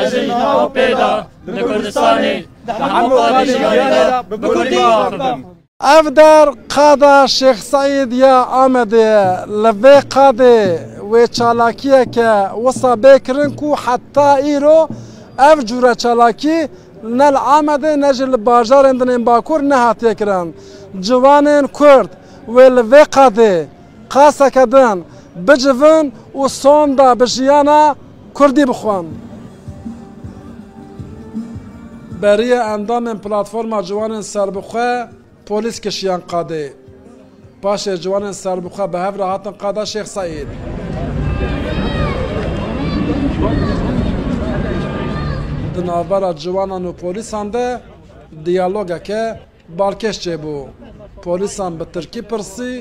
Ez ê niha û pê de li Kurdistanê di hemû qadên jiyanê de bi kurdî qise bikim. Ev der Qada Şêx Seîd ya Amedê ye. Li vê qadê wê çalakiyeke wisa bê kirin ku heta îro ev cûre çalakî ne li Amedê ne jî li bajarên din ên Bakur nehatiye kirin. Ciwanên Kurd wê li vê qadê, Qaseke din bicivin û sonda bi jiyana kurdî bixwin. Beriya endamên Platforma Ciwanên Serbixwe polîs kişiyan qadê. Paşê ciwanên serbixwe bi hev re hatin qada Şêx Seîd. Di navbera ciwanan û polîsan de diyalogeke Balkêş çêbû. Polîsan bi tirkî pirsî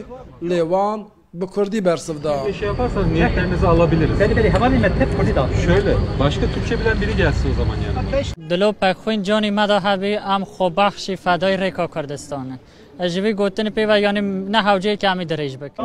lê wan bi kurdî bersiv da. Dilo pexwîn canî me da hebî em xwebexşî fedayî rêka Kurdistan in. Ez ji vî gotinê pê ve yanî ne hewceyekî em ê dirêj bikin.